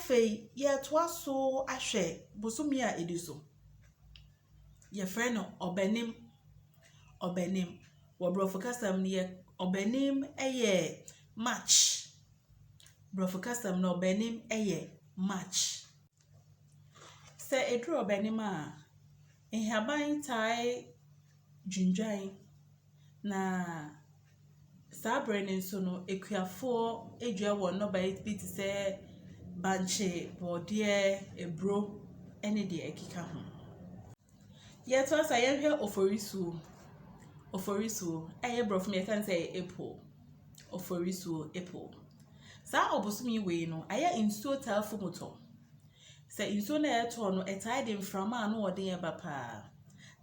Afei yɛtoa so ahwɛ bosome a ɛdi so. Yɛfrɛ no ɔbɛnem. Ɔbɛnem, wɔ borɔfo kasa mu no, yɛ ɔbɛnem yɛ March. Borɔfo kasa mu no, ɔbɛnem yɛ March. Sɛ ɛduru ɔbɛ no mu a, nhaban tae dwindwan, na saa berɛ no nso no, akuafoɔ dua wɔn nnɔbaeɛ bi te sɛ bankye, borɔdeɛ, aburo ne deɛ ɛkeka ho. Yɛtoa so a, yɛhwɛ Oforisuo. Oforisuo, ɛyɛ borɔfo mu a yɛka ne sɛ April. Oforisuo, April. Saa ɔbosome yi wei no, ayɛ a nsuo taa fu mu tɔ. Sɛ nsuo no a ɛtɔ no, ɛtaa de mframa a ano yɛ den ba pa ara.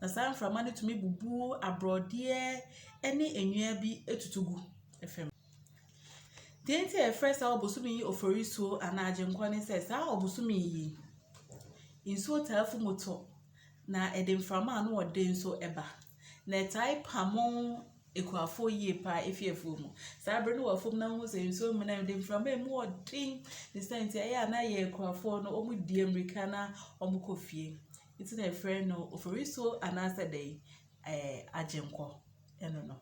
Na saa mframa no tumi bubu aborɔdeɛ ne nnua bi tutu gu fam. Deɛ nti a yɛfrɛ saa ɔbosome yi oforisuo anaa agyenkwa ne sɛ saa ɔbosome yi, nsuo taa fi mu tɔ, na ɛde mframa a ano yɛ den nso ba. Na ɛtaa pamo akuafoɔ yie pa ara fi afuo mu. Saa berɛ no wɔ afuom na wohu sɛ nsuo mmene a, ɛde mframa a emu yɛ den ne saa nti ɛyɛ a na yɛn akuafoɔ no wɔdi mmirika na wɔkɔ fie. Nti na yɛfrɛ no oforisuo anaasɛ dɛn, ɛɛ agyenkwa, ɛno no.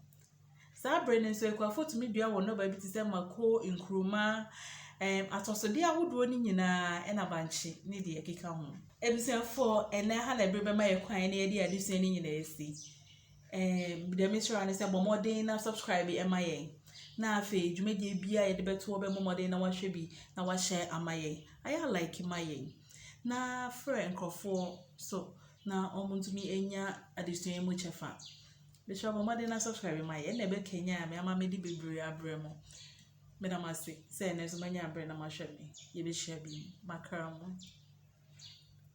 Saa bere no nso, akuafo tumi dua wɔn nnɔbae bi te sɛ mako, nkruma, ɛɛm, atɔsode ahodoɔ no nyinaa, na bankye ne deɛ ɛkeka ho. Abusuafoɔ, ɛnnɛ Hannah bere bɛma yɛn kwan na yɛde adesua no nyinaa asi. Ɛɛm, deɛ mesrɛ ne sɛ bɔ mmɔden na subscribe ɛma yɛn. Na afei dwumadie biara yɛde bɛtoɔ bɛmmɔ mmɔden na wahwɛ bi na wahyɛ ama yɛn. Ayɛ like ma yɛn. Na frɛ nkurɔfoɔ so na wɔn ntumi anya adesua yi mu kyɛfa. Mekyerɛ bɔ mmɔden na subscribe ma yɛ na ɛbɛ kanyan me ama me de bebree abrɛ mo. Me da mo ase sɛ ɛnɛ nso manya abrɛ na mahwɛ me. Yɛbɛhyia bi makra mo.